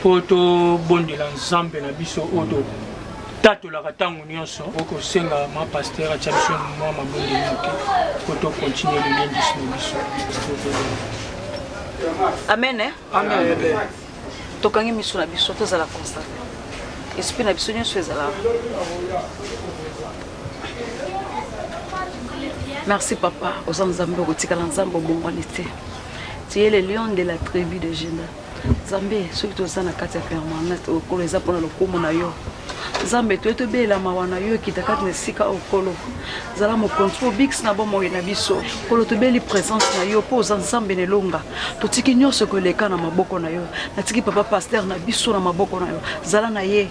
mpo tobondela nzambe na biso oyo totatolaka ntango nyonso okosenga ma pasteur atya biso mwa mabondeli moke mpo tokontinue lilendisi na biso amen eh? amen tokangi miso na biso tozala constant esprit na biso nyonso ezala merci papa oza nzambe okotikala nzambe obongwani te Tu es le lion de la tribu de Juda. Nzambe soki toza na kati ya permanence okolo eza mpona lokumu na yo nzambe toye tobelela mawa na yo ekita kati na esika oyo nkolo zala mokonzi mpo obikisi na bomoi na biso nkolo tobeli présence na yo mpo oza nzambe na elonga totiki nyonso koleka na maboko na yo natiki papa paster na biso na maboko na yo zala na ye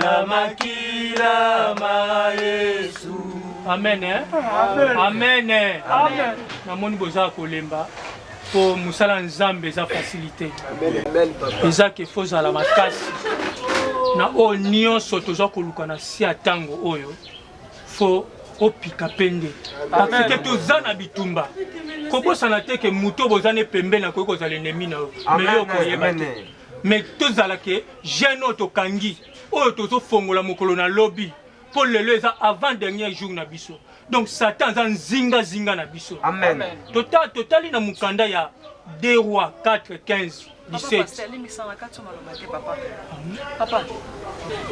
Na makila ma Yesu. Amen. Eh? Amen. Amen. Eh? Amen. Namoni boza kolemba mpo mosala nzambe eza facilité eza ke fo ozala makasi na oyo nyonso toza koluka na si ya ntango oyo fo opika mpe nde parceke toza na bitumba kobosana te ke moto oboza ne pembeni akoki kozala enemi na yo me yo okoyeba te mais tozala ke jeune oyo tokangi oyo tozofongola mokolo na lobi mpo lelo eza avant dernier jour na biso donc satan aza nzingazinga na biso amen tota totali na mokanda ya 2 roi 4 15 17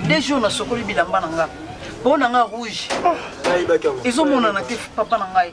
de jour nasokoli bilamba na nga mpo na nga rouge ah. ezomonana te papa na ngai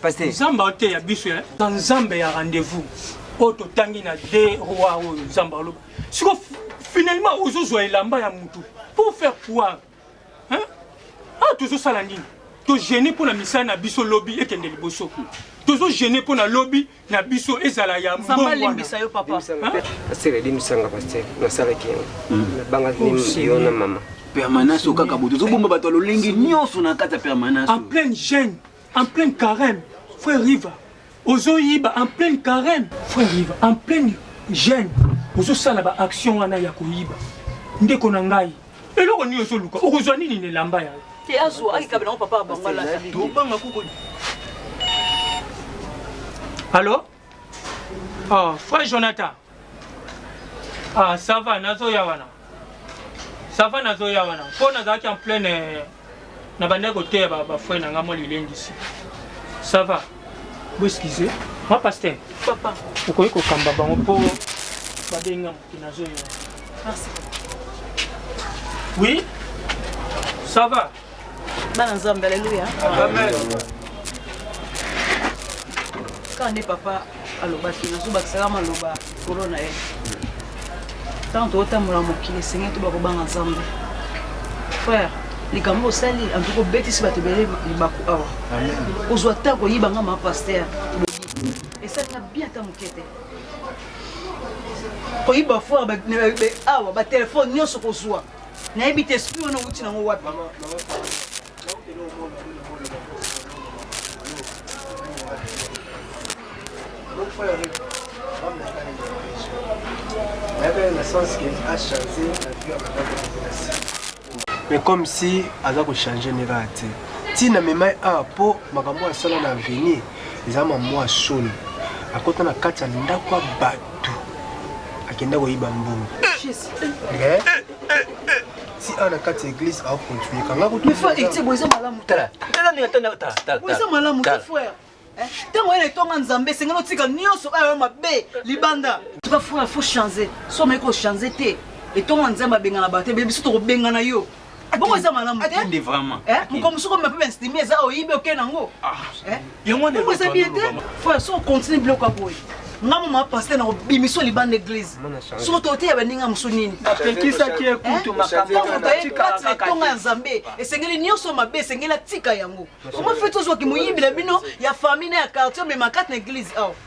Pasteur. Nzambe ateya biso ya na Nzambe ya rendez-vous oyo totangi na de roi oyo Nzambe aloba siko finalement ozozwa elamba ya mutu pour faire quoi hein? ah tozosala nini togene mpo na misala na biso lobi ekende liboso tozogene mpo na lobi na biso ezala ya mbongo alimbisa yo papa pasteur alimbisa nga pasteur nasalaki yango hmm. nabangaki oh, yo na mama permanence oyo kaka boye tozobomba bato ya lolenge nyonso na kati ya permanence en pleine jeune en pleine carême frère riva ozoyiba en pleine carême frère riva en pleine jeune ozosala baaction wana ya koyiba ndeko na ngai eloko nini ozoluka okozwa nini na elamba ya te azwa akikabela yango papa abango alata tobanga kuku allo oh, frère jonathan ah, ça va nazoya wana ça va nazoya wana mpo nazalaki en pleine Na banda ko teya ba ba frère na nga mwa lilendisi. Ça va? Bo excusez. Mwa pasteur. Papa. Okoki ko kamba bango po ba benga moto na zo yo. Merci. Oui? Ça va? Bana Nzambe, alléluia. Amen. Quand n'est papa alobaki nazobakisaka maloba likolo na ye ntango tokotambola mokili esengeli toba kobanga nzambe frère likambo osali antuka obetisi bato ebele libaku awa ozwa ta koyiba nga mapaster esali na bien ata moke te koyiba foire awa batelefone nyonso kozwa nayebi te esprit wana outi nango wapi mais comme si aza kochange ndenge aya te ntina memai awa mpo makambo asala na avenir eza mamwa soni akota na kati ya ndako ya bato akenda koyiba mbongo eh, eh, eh, si a na kati ya eglise a continuer kanga kutu mais frère etie boza malamu tala tala ni tala tala tala boza malamu te frère ntango eh, ye na etonga nzambe esengeli otika nyonso oyo yo mabe libanda tuka frère faut changer so omeki kochange te etonga nzambe abengana bato ebe biso tokobengana yo bongo eza malamu te mokomosoko mape bainstimi eza oyibi oke nango ah. eh? yango wana Bongo eza bien te elobama. frère so ocontinue biloko ya boye nga mama paster na kobimisa yo libanda eglise soki toteya baninga mosusu nini napekisaki ye kutu makambo yango moto aye natikala kati na kaka etonga ya te. nzambe esengeli nyonso mabe esengeli atika yango omoi feti ozwaki moyibi na bino ya famille na ya quartier omema kati na eglise awa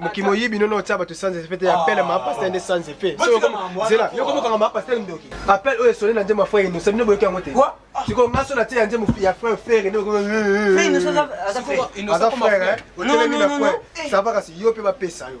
mokimo oyibi nono otya bato sans effet te apele ma pastel nde sans effet zela yo komokanga ma pastel ndoki apele oyo esoli na nzembo ya frere inosa bino boyoki yango te sikoyo nga so natie ya nzembo ya frere frere nde aza frere otelemi na frere sava kasi yo mpe bapesa yo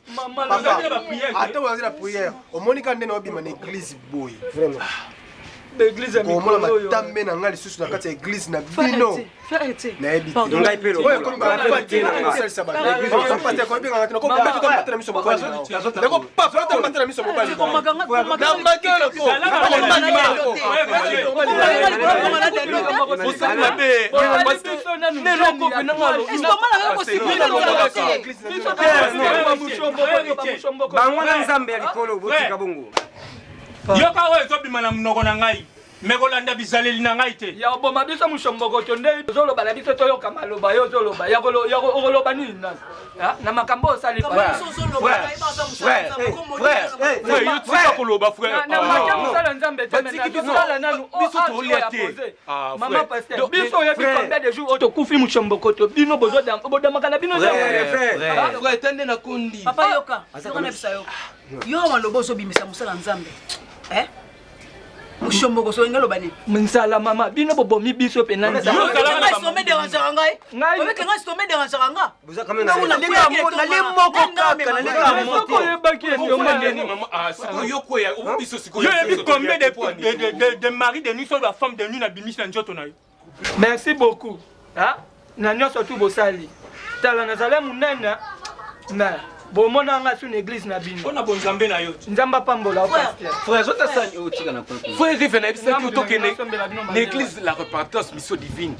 ata ozali na priere omoni ka nde na obima na eglize boye vraiment komona matambe na ngai lisusu na kati ya eglize na bino nayebi teokobatela miso mobaliloko bango na nzambe ya likolo botika bongo yoka oyo ezobima na monoko na ngai me kolanda bizaleli na ngai te ya oboma biso mosombokoto nde ozoloba na biso toyoka maloba yo ozoloba okoloba nini nani na makambo osali koloba frère na mata mosala nzambe te biso tolia te Ah, mama pasteur biso oyebi combien de jours tokufi mushombokoto bino bodamaka na bino eta nde nakondi papa yoka yoka na bisa yoka yo maloba ozobimisa mosala nzambe eh? mushomoko soki nga loba nini nzala mama bino bobomi biso mpe na nzala ngai obeke ngai sitome deranjaka ngai boza kame na leka mo na le moko kaka na leka mo te ko yebaki ete yo mandeni ah siko yo ko ya o biso siko yo yebi combien de de de de mari de nuit sur la femme de nuit na bimisi na njoto na yo merci beaucoup hein na nyonso tu bosali tala nazali monene na bomona nga su na eglise na bino mpona bonzambe na yo nzambe apambola frère rive nayebisaki otokende na eglise la repartance mission divine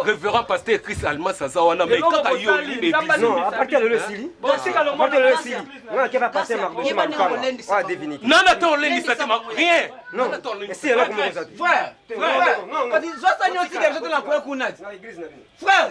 révérend pasteur chris almas aza wana mai kaka yo nana ata olendisaki rien frère frère